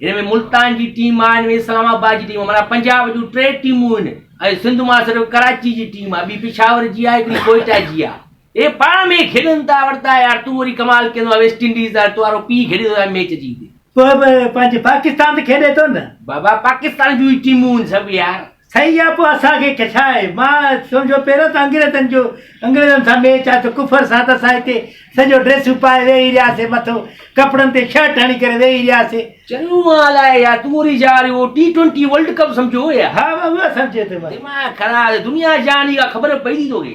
ان ۾ ملتان جي ٽيم آهي، ان ۾ اسلام آباد جي ٽيم آهي، معنيٰ پنجاب جون ٽي ٽيمون آهن ۽ سنڌ مان صرف ڪراچي جي ٽيم آهي، ٻي پشاور جي آهي، هڪڙي ڪوئيٽا جي آهي. اهي پاڻ ۾ کيڏن ٿا، وردا يار تون وري ڪمال ڪندو آهين، ويسٽ انڊيز آهي، تو وارو پيء کيڏي ٿو ميچ جيت. پوء به پنهنجي پاڪستان ته کيڏي ٿو نه. بابا پاڪستان جون ئي ٽيمون آهن سڀ يار. سهي آ پوء اسان کي ڪه ڇا آهي مان سون جو پهريون ته انگريزن جو انگريزن سان ميچ آهي ته ڪفر سان ته اسان هتي سڄو ڊريسون پائي ويهي رهيا سي مٿو ڪپڙن تي شرٽ هڻي ڪري ويهي رهيا سي چڱو آ الائي يا تون وري جا اهو ٽي ٽوئنٽي ورلڊ ڪپ سمجهيو هو يا. ها مان اهو سمجهي ٿو مان. دماغ خراب دنيا جهان جي ڪا خبر پئي ٿي توکي.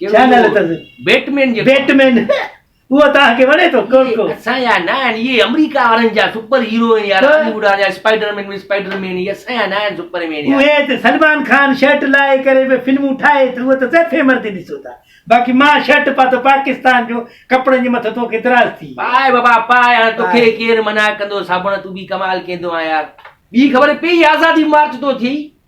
ڇا نالو اٿس بيٽمين جي بيٽمين هو توهان کي وڻي ٿو ڪو ڪو اسان يا نه آهن اهي آمريڪا وارن جا سپر هيرو آهن يار هالي ووڊ جا اسپائڊر مين اسپائڊر مين اهي اسان يا نه آهن سپر مين يار اهي ته سلمان خان شرٽ لائي ڪري به فلمون ٺاهي ته اهو ته سيفي مردي ڏسو ٿا باقي مان شرٽ پاتو پاڪستان جو ڪپڙن جي مٿو توکي دراز ٿي پائي بابا پائي هاڻي توکي ڪير منع ڪندو صابڻ تون به ڪمال ڪيندو آهيان يار ٻي خبر پئي آزادي مارچ تو ٿئي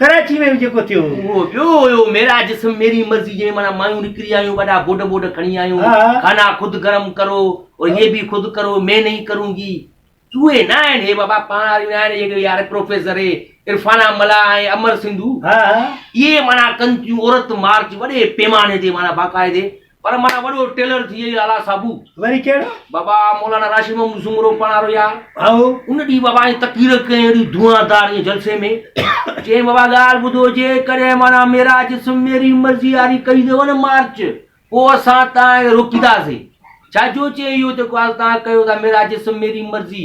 ڪراچي ۾ به جيڪو ٿيو هو. اهو ٻيو هيو، ميرا جسم ميري مرضي جنهن معنيٰ مايون نڪري آيون وڏا گوڏ ٻوڏ کڻي آيون، کانا خود گرم ڪرو اور يي ڀي خود ڪرو مين نهين ڪرون گي. چوهي نه آهن هي بابا پاڻ واريون آهن اهي ڪهڙي يار پروفيسر هي عرفانا ملاح ۽ امر سنڌو اهي معنيٰ ڪن ٿيون عورت مارچ وڏي پيماني تي معنيٰ باقاعدي پر مانا وڏو ٽيلر ٿي اي لالا صابو وري ڪهڙو بابا مولانا راشد محمد سومرو پاڻارو يار هائو ان ڏي بابا اي تقرير ڪئي اهڙي دعادار اي جلسي ۾ چي بابا ڳالهه ٻڌو جي ڪڏهن مانا ميرا جس ميري مرضي واري ڪئي دو نه مارچ پو اسان تان روڪيدا سي ڇا جو چي اهو ته ڳالهه تان ڪيو ته ميرا جس ميري مرضي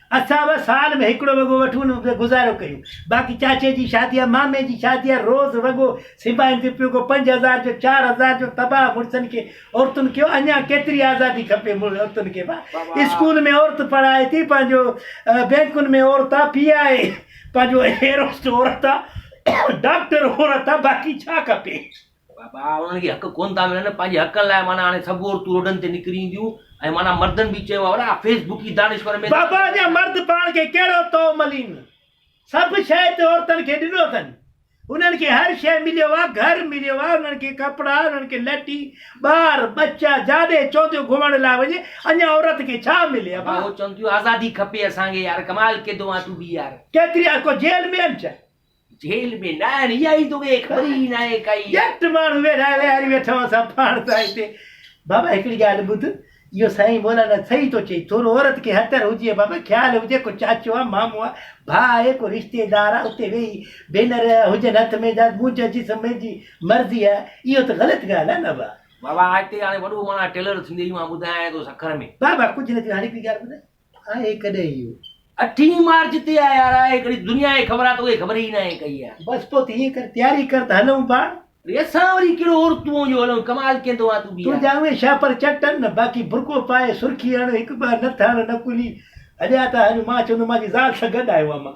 اسان به سال ۾ هڪڙو وڳو وٺون ان تي گذارو ڪيون باقي چاچي جي شادي يا مامي جي شادي يا روز وڳو سبائين تي پيو ڪو پنج هزار جو چار هزار جو تباهه مڙسن کي عورتن کي اڃان ڪيتري آزادي کپي عورتن کي با اسڪول ۾ عورت پڙهائي ٿي پنهنجو بينڪن ۾ عورت آ پي آء اي پنهنجو ايروسٽ عورت آ ڊاڪٽر عورت آ باقي ڇا کپي. ڀاء انهن کي حق ڪونه ٿا ملن پنهنجي حقن لاء معنيٰ هاڻي سڀ عورتون روڊن تي نڪري اينديون ۽ معنيٰ مردن به چيو آهي اڙا فيس بڪي دانشور ۾ بابا اڃا مرد پاڻ کي ڪهڙو تو ملين سڀ شيء تي عورتن کي ڏنو اٿن انهن کي هر شيء مليو آهي گهر مليو آهي انهن کي ڪپڙا انهن کي لٽي ٻار ٻچا جاڏي چونديو گهمڻ لاء وڃي اڃا عورت کي ڇا ملي ابا هو چون ٿيون آزادي کپي اسان کي يار ڪمال ڪيدو آهين تون به يار. ڪيتري آ ڪو جيل ۾ آهن ڇا جيل ۾ ناهن اها ئي دونهين خبر ئي ناهي ڪائي. ڄٽ ماڻهو ويڙهائي ويهاري ويٺا هئا سان پاڻ سان هتي. بابا هڪڙي ڳالهه ٻڌ اهو سائين مولانا صحيح ٿو چئي ٿورو عورت کي هتر هجي ها بابا خيال هجي ڪو چاچو آ مامو آ ڀاء آهي ڪو رشتيدار آ اتي ويهي بينر هجن هٿ ۾ جا منهنجا جسم منهنجي مرضي آ اهو ته غلط ڳالهه آ نه بابا. بابا هتي هاڻي وڏو ماڻهو آ ٽيلر ٿيندي ئي مان ٻڌايانء ٿو سکر ۾. بابا ڪجهه نه ٿيو هاڻي هڪڙي ڳالهه ٻڌ آهي ڪڏهن اهو. اٺين مارچ تي آهي يار. آهي ڪڏهن دنيا جي خبر آهي توکي خبر ئي ناهي ڪئي يار. بس پوء ته ائين ڪر تياري ڪر ته هلون پاڻ. ڙي اسان وري ڪهڙو عورتون جو هلون ڪمال ڪيندو آهين تون به يار. تنهنجا اهي شاپر چٽن نه باقي برقعو پائي سرخي هڻ هڪ ٻه نٿ هڻ نڪلي هليا ٿا هلون مان چوندو مان جي زال سان گڏ آهيون امان.